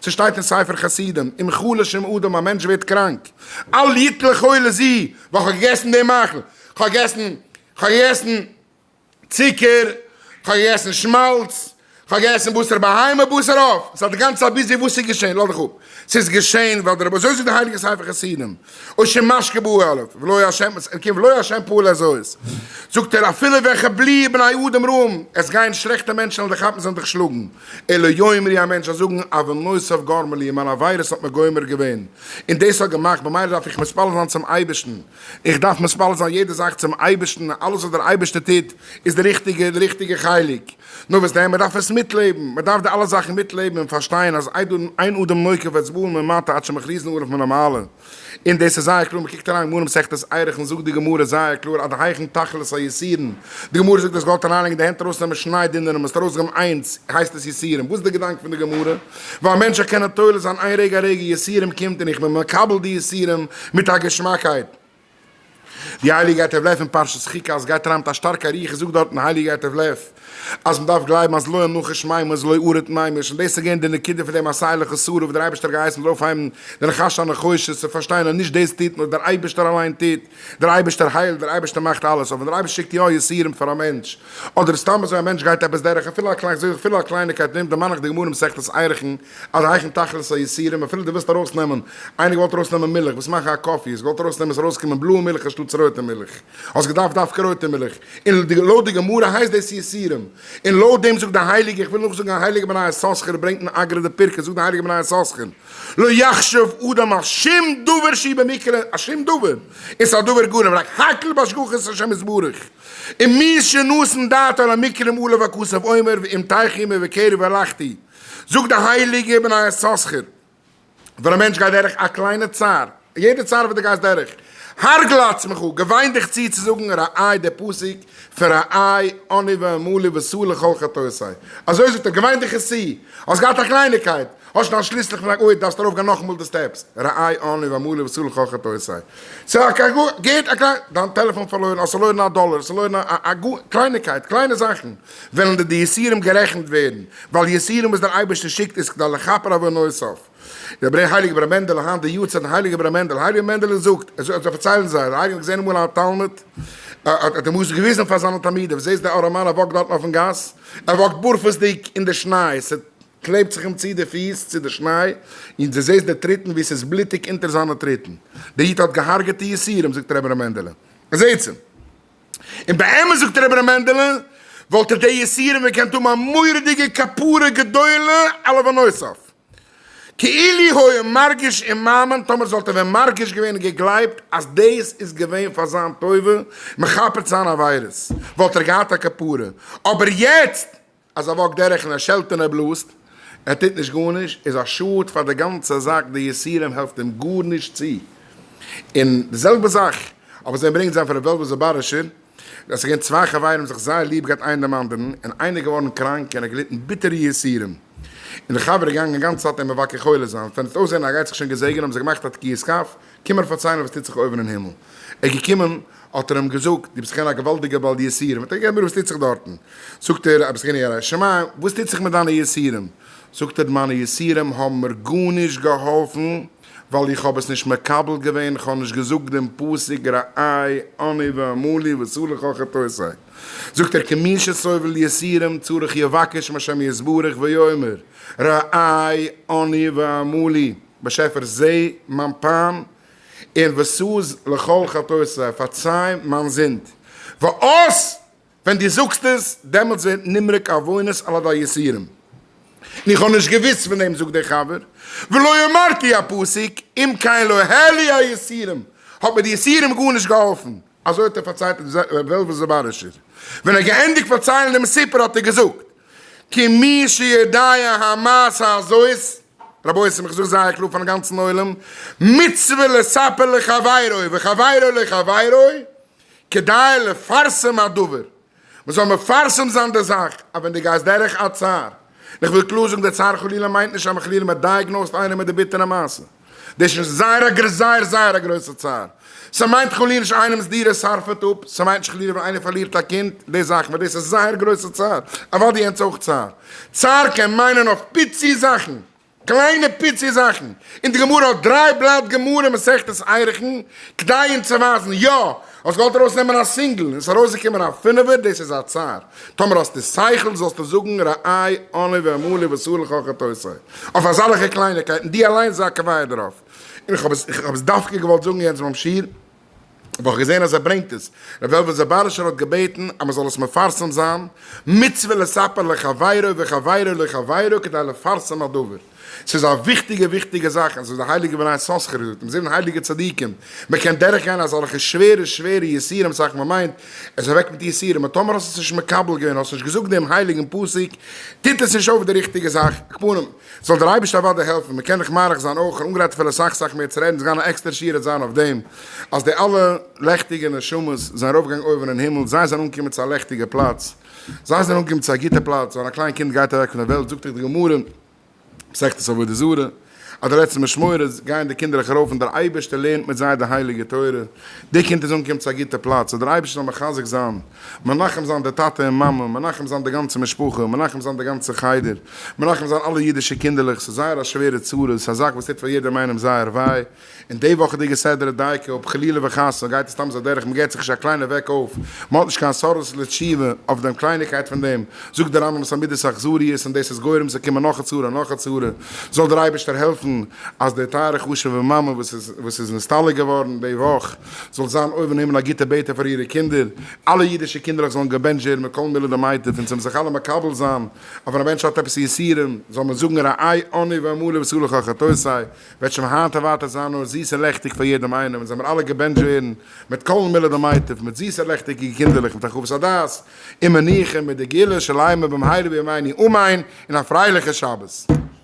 ס'שטייט אין ספר חסידים, אם חלש עם אדם, א מענטש ווערט קראנק, אל יתן לכל לע ז, ווייל כ'האב געגעסן די מאכל, כ'האב געגעסן, כ'האב געגעסן צוקער, כ'האב געגעסן שמאלץ, כ'האב געגעסן בשר בהמה, בשר עוף, ס'האט די גאנצע צייט ביז די וואס איז געשען, לאדעך אפ, ס'איז געשען ווייל דער רבי, אזוי זאגט דער הייליגער ספר חסידים, אוי שמשקה בא א' ולא יהיה השם עס קומט ולא יהיה השם פועל אז אויס זאגט ער אפילו וועלכע בלי בני אדם רעים עס גייען שלעכטע מענטשן און דיך כאפן זאלן דיך שלאגן אלא יאמרי א מענטש זאל זאגן אבן נוסף גרמה לי מיין עבירות האט מיר גומר געווען און דאס האט געמאכט במילא דארף איך מתפלל זיין צום אייבערשטן איך דארף מתפלל זיין יעדע זאך צום אייבערשטן אלעס וואס דער אייבערשטער טוט איז די ריכטיגע די ריכטיגע חלק נאר וואס דען, מען דארף עס מיטלעבן, מען דארף די אלע זאכן מיטלעבן און פארשטיין אז איידער אן איין אדם נוקב וועט עס באלן ממטה עד שמכריזין עליו מן המעלה, און דאס איז זייער קלאר, מען קוקט אריין גמרא מסכת ערכים זאגט די גמרא זייער קלאר עד היכן תכלית היסורין, די גמרא זאגט אז געוואלט אריינלייגן די הענט ארויסנעמען שניי דינער און מען האט ארויסגעגעבן איינס, הייסט עס יסורים, וואס איז די געדאנק פון די גמרא, ווייל מענטשען קענען תולה זיין איין רגע א רגע יסורים קומט און איך בין מקבל די יסורים מיט א געשמאקייט. די הייליגע עת הו' אין פרשת חוקת אז גייט אריין מיט א שטארקע רוח איז זאגט דארטן הייליגע עת הו' אז מען דארף גלייבן אז לא אנוכש מימש לא ארד מימש און דאס איז געווען די נקודה פון די מסייע לך שרה וואס דער אייבערשטער האט געהייסן אונז אויפהייבן די נחש הנחושת צו פארשטיין אז נישט דאס טוט נאר דער אייבערשטער אליין טוט דער אייבערשטער היילט דער אייבערשטער מאכט אלעס אבער ווען דער אייבערשטער שיקט יא יסורים פאר א מענטש אדער סתם אזוי א מענטש גייט עפעס דורך אפילו א קלייניקייט נעמט דערמאן איך די גמרא מסכת עירכין עררייכן תכלית היסורים, אפילו דו ווילסט ארויס נעמען, איינער געוואלט ארויס נעמען מילך, וואס מאכן א קאפי, האסט געוואלט ארויס נעמען עס ארויס קומען בלויע מילך אנשטאטס רויטע מילך, האסט געדארפט דווקא רויטע מילך, און לויט די גמרא הייסט דאס יסורים, און לויט דעם זאגט די הייליגע, איך וויל נאכזאגן א הייליגע בני יששכר ברענגט אין אגרא די פרקי, זאגט די הייליגע בני יששכר, לא יחשב אדם על שום דבר שהיא במקרה, א שום דבר, איז א דבר גורם, רק הקל בהשגחת השם יתברך, און מי שנתן דעתו על המקרים עליו הכסף עומר ואם תיכי עמי וקרב והלכתי, זאגט דער הייליגער אבן היששכר, ווען א מענטש גייט דורך א קליינע צער, יעדע צער וואס דו גייסט דורך, הרגל לעצמך, געוויין דיך צו צו זאגן ראי' דער פסוק פון ראי' אני ואמלי וסור לכל חטאותי', אזוי זאגט ער, געוויין דיך עס צו, האסט געהאט א קלייניקייט, האסט שוין א שליסל פון א גוי, דארפסט ארויפגיין נאכאמאל די סטעפס, ראי' אני ואמלי וסור לכל חטאותי', דיין טעלעפאן פארלוירן, האסט פארלוירן א דאלער, האסט פארלוירן א א קלייניקייט, קליינע זאכן, וועלן די די יסורים גערעכנט ווערן, ווייל יסורים וואס דער אייבערשטער שיקט איז כדי לכפר עוונות. דער ברען הייליגער ברען מענדעלע היינט די יארצייט פון הייליגער ברען מענדעלע, הייליגער ברען מענדעלע זאגט, עס זאגט עס פארציילן זיי, דער אייגענער האט געזען אמאל א תלמיד, האט אים עס געוויזן פאר זיינע תלמידים, זעסט דער ארעמאן ער וואקט דארטן אויפן גאס, ער וואקט בארפעסדיג אין די שניי, עס קלעבט זיך אים צו די פיס צו די שניי, און דו זעסט די טריטן ווי עס איז בלוטיג אונטער זיינע טריטן, דער איד האט געהארגעטע יסורים, זאגט דער ברען מענדעלע, זעטס אים. און באמת זאגט דער אברהם מענדעלע וואלט ער די יסורים געקענט האבן א מורא'דיגע כפרה גדולה על עוונותיו כאילו היה מרגיש און מאמין, טאמער זאלט ער ווען מרגיש געווען און געגלייבט אז דאס איז געווען פאר זיין טובה מכפר צו זיין עבירות וואלט ער געהאט א כפרה, אבער יעצט אז ער וואקט דורך און ער שעלט און ער בלאזט, ער טוט נישט גארנישט, איז א שאד פאר די גאנצע זאך, די יסורים העלפט אים גארנישט צו, און די זעלבע זאך האבן זיי אנברענגט זיין פון ר' וועלוול זאבארישער, עס איז געווען צוויי חברים זיך זייער ליב געהאט איינער דעם אנדערן, און איינער איז געווארן קראנק און ער האט געליטן ביטערע יסורים, און די חבר איז געגאנגען גאנצע צייט אים מבקר חולה זיין, ווען עס האט אויסזען אז ער גייט זיך שוין געזעגענען האבן זיי געמאכט א תקיעת כף, קום מיר פארציילן וואס טוט זיך אויבן אין הימל. ער איז געקומען, האט ער אים געזאגט, דו ביסט אכן א געוואלדיגער בעל יסורים. האט ער געפרעגט, וואס טוט זיך דארטן? זאגט ער, א בזקן ירא שמים, וואס טוט זיך מיט דיינע יסורים? זאגט ער, מיינע יסורים האבן מיר גארנישט געהאלפן, ווייל איך האב עס נישט מקבל געווען, איך האב נישט געזאגט דעם פסוק רעי אני ואמור לי ועשו לך חטאותיי. זאגט ער, כמי שסובל יסורים צריך יבקש מהשם יתברך ויאמר, רעי אני ואמור לי. באשעפער זע מיין פיין און וסוז לכל חטאותיי, פארציי מיין זינד, וואס ווען דו זאגסט עס דעמאלטס ווערט נמרק עוונות על ידי יסורים, און איך האב נישט געוויסט פון דעם, זאגט דער חבר, ולא אמרתי הפסוק אם כן לא העלו היסורים, האט מיר די יסורים גארנישט געהאלפן, אזוי האט ער פארציילט אין ר' וועלוול זאבארישער, ווען ער האט געענדיגט פארציילן דעם סיפור האט ער געזאגט, כמי שיודע המעשה הזאת, רבותי'ס איך זאג זייער קלאר פארן גאנצן עולם, מצוה לספר לחבירו וחבירו לחבירו, כדאי לפרסם הדבר. מען זאל מפרסם זיין די זאך, אז ווען דו גייסט דורך א צער, און איך וויל קלאר זאגן, די צער חלילה מיינט נישט אז מען חלילה מען דייעגנאוזט איינעם מיט די ביטערע מעשה, דאס איז זייער א גר זייער זייער א גרויסע צער, ס'מיינט חלילה נישט איינעמ'ס דירה שרפעט אפ, ס'מיינט נישט חלילה ווען איינער פארלירט א קינד, די זאכן, ווייל דאס איז זייער גרויסע צער, אוודאי יענץ אויך צער, צער קען מיינען אויף פיצי זאכן, קליינע פיצי זאכן, און די גמרא האט דריי בלאט גמרא מסכת עירכין כדי אים צו ווייזן, יא, האסט געוואלט ארויס נעמען א סינגל און עס איז ארויס געקומען א פינעווער, דאס איז א צער, טאמער האסטו שכל זאלסטו זאגן רעי אני ואמור לי ואסור לך חטאותיי, אויף אזאלעכע קלייניקייטן, דו אליינס זיי א קביעה דערויף, און איך האב עס דווקא געוואלט זאגן יעצט ביים שיעור. האב איך געזען אז ער ברענגט עס, ר' וועלוול זאבארישער האט געבעטן אז מען זאל עס מפרסם זיין, מצוה לספר לחבירו וחבירו לחבירו כדי לפרסם הדבר, ס'איז א וויכטיגע וויכטיגע זאך און ס'איז די הייליגע בני יששכר ז ל און זיבן הייליגע צדיקים, מען קען דורך גיין אזעלכע שווערע שווערע יסורים סאך מען מיינט, עס איז אוועק מיט יסורים און טאמער האסט עס נישט מקבל געווען האסט נישט געזאגט דעם הייליגן פסוק טוט עס נישט אויף די ריכטיגע זאך, כ'פארן. זאל דער אייבערשטער אוודאי העלפן, מען קען דאך מאריך זיין אויך, אנגערייט אפילו אסאך אסאך מער צו רעדן, ס'גייען א עקסטערע שיעור העט זיין אויף דעם, אז די אלע לעכטיגע נשמות זענען ארויפגעגאנגען אויבן אין הימל, זיי זענען אנגעקומען צו א לעכטיגע פלאץ, זיי זענען אנגעקומען צו א גוטע פלאץ, ווען א קליין קינד גייט אוועק פון דער וועלט זאגט דאך די גמרא, מסכת עבודה זרה, אז די לעצטע משמורת גייען די קינדערלעך ארויף און דער אייבערשטער לערנט מיט זיי די הייליגע תורה, די קינד איז אנגעקומען צו א גוטע פלאץ, זאל דער אייבערשטער זיי מחזק זיין. מנחם זיין די טאטע און מאמע, מנחם זיין די גאנצע משפחה, מנחם זיין די גאנצע חדר, מנחם זיין אלע אידישע קינדערלעך, ס'איז זייער א שווערע צרה, ס'איז א זאך וואס טוט פאר יעדעם איינעם זייער וויי, און די וואכעדיגע סדר דייקא, אויב חלילה וחס גייט עס סתם אזוי אדורך, מ'געט זיך נישט א קליינע וועק אויף, מ'האט נישט קיין סארס לתשובה אויף דעם קלייניקייט פון דעם, זאגט דער רמב ם ס'איז א מידת אכזריות און דאס איז גורם צו קומען נאך א צרה און נאך א צרה, זאל דער אייבערשטער העלפן אז די טייערע חשובע מאמע וואס איז נסתלק געווארן די וואך, זאל זיין אויבן הימל א גוטע בעטע פאר אירע קינדער, אלע אידישע קינדערלעך זאלן געבענטשט ווערן מכל מיני למיטב און ס'וועלן זיך אלע מקבל זיין, אז ווען א מענטש האט עפעס יסורים זאל מען זאגן רעי אני ואמור לבשרך חטאותיי, וועט שוין היינט און ווייטער זיין נאר זיס און לעכטיג פאר יעדעם איינעם און זאל מען אלע געבענטשט ווערן מיט כל מיני למיטב מיט זיסע לעכטיגע קינדערלעך מיט הרחבת הדעת און מנוחה מיט די גאולה שלימה במהרה בימינו אמן און א פרייליכע שבת.